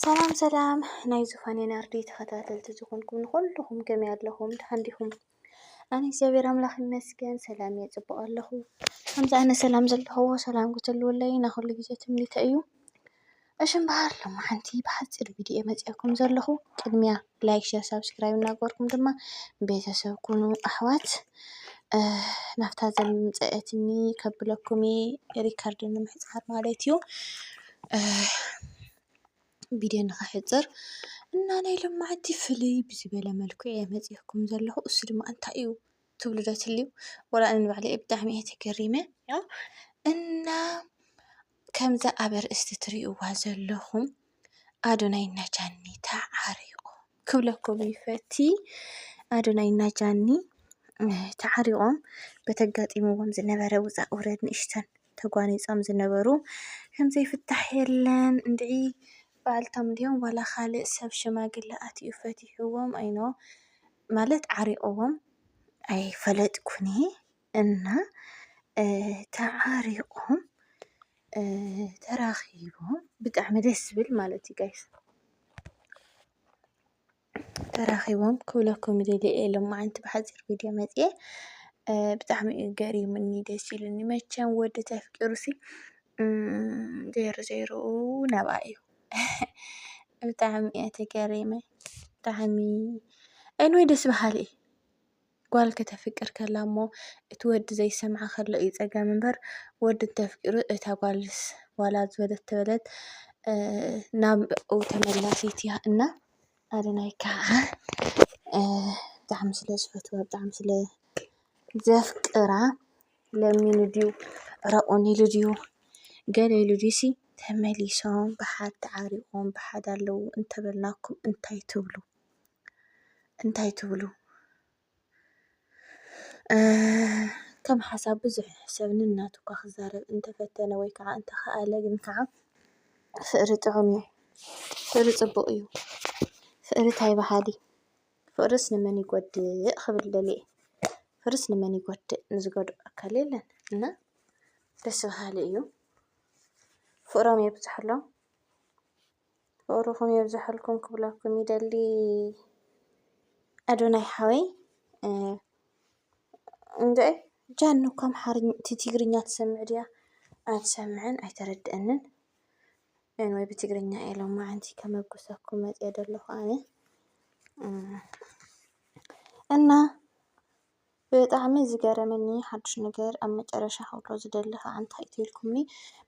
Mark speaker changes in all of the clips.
Speaker 1: ሰላም ሰላም ናይ ዙፋኔ ናርዲ ተኸታተልቲ ዝኾንኩም ንኹልኹም ከመይ ኣለኹም? ደሓን ዲኹም? ኣነ እግዚኣብሔር ኣምላኽ ይመስገን ሰላም እየ ጽቡቕ ኣለኹ። ከምዚ ኣነ ሰላም ዘለኹዎ ሰላም ክትህልወለይ ናይ ኩሉ ግዜ ትምኒተ እዩ። እሺ እምበኣር ሎሚ ሓንቲ ብሓጺር ቪድዮ እየ መጺኣኩም ዘለኹ። ቅድሚያ ላይክ፣ ሸር፣ ሳብስክራይብ እናገበርኩም ድማ ቤተሰብ ኩኑ ኣሕዋት። እ፣ ናብታ ዘምጸአትኒ ከብለኩም እየ ሪከርድ ንምሕጻር ማለት እዩ። ቪድዮ ንኸሕፅር እና ናይ ሎማዓንቲ ፍልይ ብዝበለ መልክዑ እየ መፂኦኩም ዘለኹ እሱ ድማ እንታይ እዩ ትብሉ ዶ ትህልው ወላ ኣነ ንባዕለ ብጣዕሚ እየ ተገሪመ እና ከምዛ ኣብ ኣርእስቲ ትሪእዋ ዘለኹም ኣዶናይ እና ጃኒ ተዓሪቑ ክብለኩም ይፈቲ ኣዶናይ እና ጃኒ ተዓሪቖም በተጋጢምዎም ዝነበረ ውፃእ ውረድ ንእሽተን ተጓኒጾም ዝነበሩ ከም ዘይፍታሕ የለን እንድዒ ባእልቶም ድዮም ዋላ ካልእ ሰብ ሽማግለ ኣትዩ ፈቲሕዎም ኣይኖ ማለት ዓሪቕዎም ኣይፈለጥኩንየ እና ተዓሪቖም ተራኺቦም ብጣዕሚ ደስ ዝብል ማለት እዩ ጋይስ። ተራኺቦም ክብለኩም ይደሊ እየ ሎማዓንቲ ብሓፂር ቪድዮ መፂኤ ብጣዕሚ እዩ ገሪሙኒ ደስ ኢሉኒ መቸም ወዲ ተፍቂሩሲ ዘይሩ ዘይሩ ናብኣ እዩ ብጣዕሚ እየ ተገሪመ ብጣዕሚ እንወይ ደስ በሃሊ እዩ ጓል ከተፍቅር ከላ እሞ እቲ ወዲ ዘይሰምዓ ከሎ እዩ ጸገም እምበር ወዲ እንተፍቂሩ እታ ጓልስ ዋላ ዝበለት ተበለት ናብኡ ተመላሲት እያ እና ኣደናይ ከዓ ብጣዕሚ ስለ ዝፈትዋ ብጣዕሚ ስለ ዘፍቅራ ለሚኑ ድዩ ረቑን ኢሉ ድዩ ገለ ኢሉ ድዩሲ ተመሊሶም ብሓድ ተዓሪቖም ብሓድ ኣለዉ እንተበልናኩም እንታይ ትብሉ? እንታይ ትብሉ? ከም ሓሳብ ብዙሕ ሰብ ነናቱ እኳ ክዛረብ እንተፈተነ ወይ ከዓ እንተኸኣለ ግን ከዓ ፍቕሪ ጥዑም እዩ። ፍቕሪ ፅቡቕ እዩ። ፍቕሪ ታይ በሃሊ? ፍቕርስ ንመን ይጎድእ ክብል ደልየ። ፍቕርስ ንመን ይጎድእ? ንዝጎድኦ ኣካል የለን። እና ደስ በሃሊ እዩ። ፍቕሮም የብዘሐሎም። ፍቅርኩም የብዘሐልኩም ክብለኩም ይደሊ ኣዶናይ ሓወይ እንድዒ ጃኒ እኮ ኣምሓርኛ ትግርኛ ትሰምዕ ድያ ኣትሰምዕን ኣይተረድእንን ወይ ብትግርኛ እየ ሎማዓንቲ ከመጉሰኩም መፅየ ዘለኹ ኣነ እና ብጣዕሚ ዝገረመኒ ሓዱሽ ነገር ኣብ መጨረሻ ክብሎ ዝደሊ ክኣ እንታይ እዩ ተልኩምኒ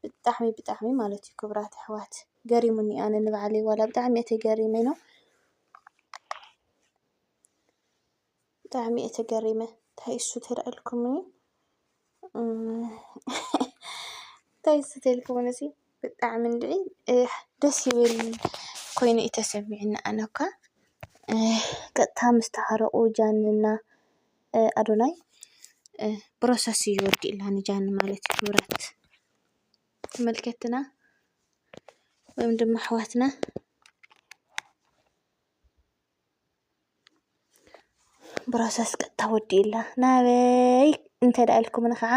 Speaker 1: ብጣዕሚ ብጣዕሚ ማለት እዩ ክብራት ኣሕዋት ገሪሙኒ ኣነ ንባዕለይ ዋላ ብጣዕሚ እየ ተገሪመ ነው ብጣዕሚ እየ ተገሪመ እንታይ እሱ ተላኢልኩምኒ እንታይ ዝተልክሙን እዙይ ብጣዕ ምንድዒ ደስ ይብል ኮይኑ እተሰሚዑኒ ኣነኳ ቀጥታ ምስተሃረቑ ጃንንና ኣዶናይ ብሮሰስ እዩ ወዲእላ ንጃኒ ማለት እዩ ክብረት ተመልከትና ወይም ድማ ኣሕዋትና። ብሮሰስ ቀጥታ ወዲኡላ ናበይ እንተ ደኣ ኢልኩምኒ ኸዓ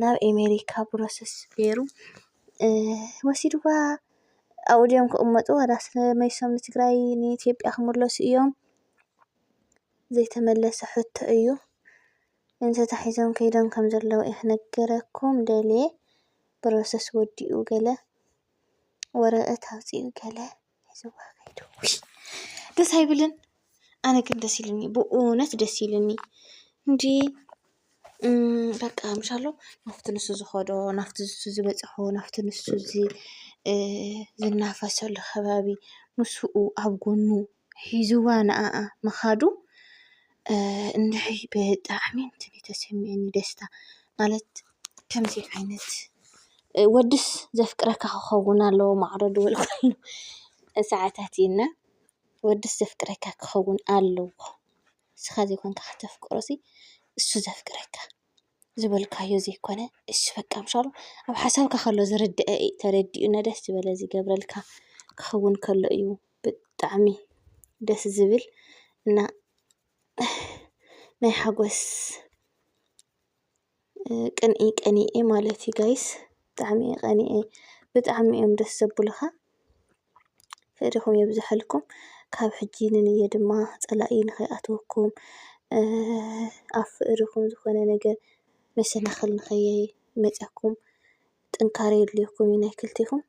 Speaker 1: ናብ ኤሜሪካ ብሮሰስ ገይሩ ወሲድዋ ኣብኡ ድዮም ክቕመጡ ዋላስ መሊሶም ንትግራይ ንኢትዮጵያ ክምለሱ እዮም? ዘይተመለሰ ሕቶ እዩ። ተታሒዞም ከይዶም ከም ዘለዉ እየ ክነግረኩም ደልየ። ብሮሰስ ወዲኡ ገለ ወረቐት ኣውጺኡ ገለ። ደስ ኣይብልን? ኣነ ግን ደስ ኢሉኒ ብእውነት ደስ ኢሉኒ እንዲ በቃ ምሻ ኣሎ ናብቲ ንሱ ዝኸዶ ናብቲ ንሱ ዝበፅሖ ናብቲ ንሱ ዝናፈሰሉ ከባቢ ምስኡ ኣብ ጎኑ ሒዝዋ ንዓኣ ምኻዱ። እንድዒ ብጣዕሚ እንትን እዩ ተሰሚዕኒ ደስታ ማለት ከምዚ ዓይነት ወድስ ዘፍቅረካ ክኸውን ኣለዎ ማዕረ ዝበልኩሉ ሰዓታት እዩ እና ወድስ ዘፍቅረካ ክኸውን ኣለዎ ንስኻ ዘይኮንካ ከተፍቅሮሲ እሱ ዘፍቅረካ። ዝበልካዮ ዘይኮነ እሺ በቃ ምሻሉ ኣብ ሓሳብካ ከሎ ዝርድኣ እዩ ተረዲኡና ደስ ዝበለ ዝገብረልካ ክኸውን ከሎ እዩ ብጣዕሚ ደስ ዝብል እና ናይ ሓጎስ ቅንኢ ቀኒኤ ማለት እዩ ጋይስ ብጣዕሚ እየ ቀኒኤ ብጣዕሚ እዮም ደስ ዘብሉኻ። ፍቅሪኩም የብዘሐልኩም ካብ ሕጂ ንንየ ድማ ፀላኢ ንከይኣትወኩም ኣብ ፍቅሪኩም ዝኮነ ነገር መሰናክል ንከይመፀኩም ጥንካረ የድልየኩም እዩ ናይ ክልቴኩም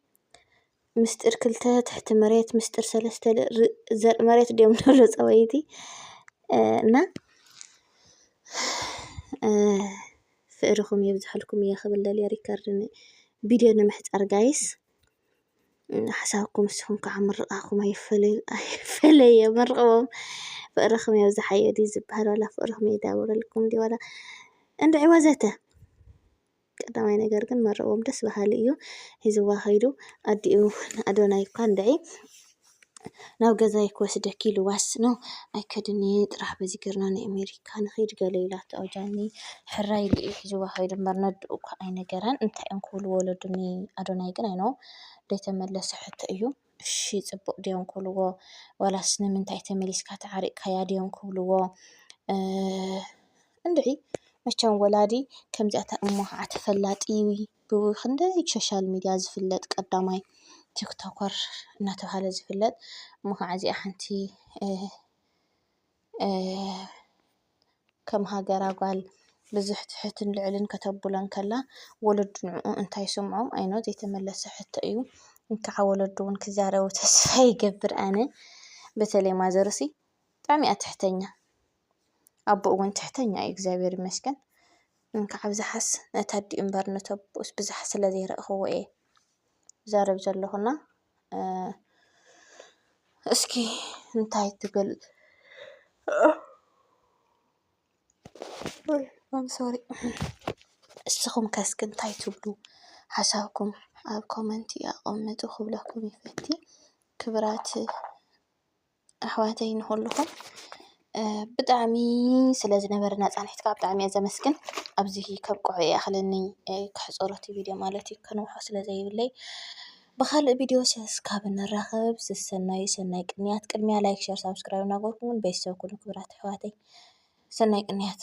Speaker 1: ምስጢር ክልተ ትሕቲ መሬት ምስጢር ሰለስተ ዘርኢ መሬት ድዮም ንብሉ ፀባይቲ እና ፍቅሪኩም የብዘሐልኩም እየ ክብል ደልየ ሪከርድ ቪድዮ ንምሕፃር ጋይስ። ሓሳብኩም ንስኹም ከዓ ምርቓኹም ኣይፈለዮ መርቕዎም ፍቕርኹም የብዝሓዮ ድዩ ዝበሃል ዋላ ፍቕርኹም የዳውረልኩም ድዩ ዋላ እንድዒ ወዘተ ቀዳማይ ነገር ግን መርቕዎም ደስ በሃሊ እዩ ሒዝዋ ከይዱ ኣዲኡ ንኣዶናይ እኳ እንድዒ ናብ ገዛይ ክወስደኪ ኢሉዋስ ን ኣይከድን እየ ጥራሕ በዚ ጌርና ን ኣሜሪካ ንኺድ ገለ ኢላቶ ኣውጃኒ ሕራይ ኢሉ እዩ ሒዝዋ ከይዱ እምበር ነድኡ እኳ ኣይነገራን እንታይ እዮም ክብሉ ወለዱ ን ኣዶናይ ግን ኣይኖ ደይተመለሰ ሕቶ እዩ እሺ ጽቡቅ ድዮም ክብልዎ ዋላስ ንምንታይ ተመሊስካ ተዓሪቅካያ ድዮም ክብልዎ እንድዒ መቸም ወላዲ ከምዚኣታ እሞ ኻዓ ተፈላጢ ብኽንደይ ሶሻል ሚድያ ዝፍለጥ ቀዳማይ ቲክቶከር እናተብሃለ ዝፍለጥ እሞ ኻዓ እዚኣ ሓንቲ ከም ሃገራ ጓል ብዙሕ ትሑትን ልዑልን ከተብሎ እንከላ ወለዱ ንዕኡ እንታይ ይስምዖም ኣይ ኖው ዘይተመለሰ ሕቶ እዩ። እንካዓ ወለዱ እውን ክዛረቡ ተስፋ ይገብር ኣነ በተለይ ማዘርሲ ብጣዕሚ እያ ትሕተኛ። ኣቦኡ ውን ትሕተኛ እዩ እግዚኣብሔር ይመስገን እንካዕ ኣብዝሓስ ነቲ ኣዲኡ እምበር ነቲ ኣቦኡስ ብዝሕ ስለ ዘይረእክዎ እየ ዝዛረብ ዘለኩ እና እስኪ እንታይ ትብል ሶሪ እስኹም ከ እስኪ እንታይ ትብሉ ሓሳብኩም ኣብ ኮመንቲ ኣቐምጡ ክብለኩም ይፈቲ ክብራት ኣሕዋተይ ንኹልኹም ብጣዕሚ ስለ ዝነበረና ፃንሒት ከዓ ብጣዕሚ እየ ዘመስግን። ኣብዚ ከብቅዖ ይኣኽለኒ ከሕፅሮ እቲ ቪድዮ ማለት እዩ ከንውሖ ስለ ዘይብለይ። ብኻልእ ቪድዮ እስካብ ንራኸብ ሰሰናዩ ሰናይ ቅንያት። ቅድሚያ ላይክ ሸር ሳብስክራይብ እናገበርኩም ቤተሰብ ኩኑ ክብራት ኣሕዋተይ ሰናይ ቅንያት።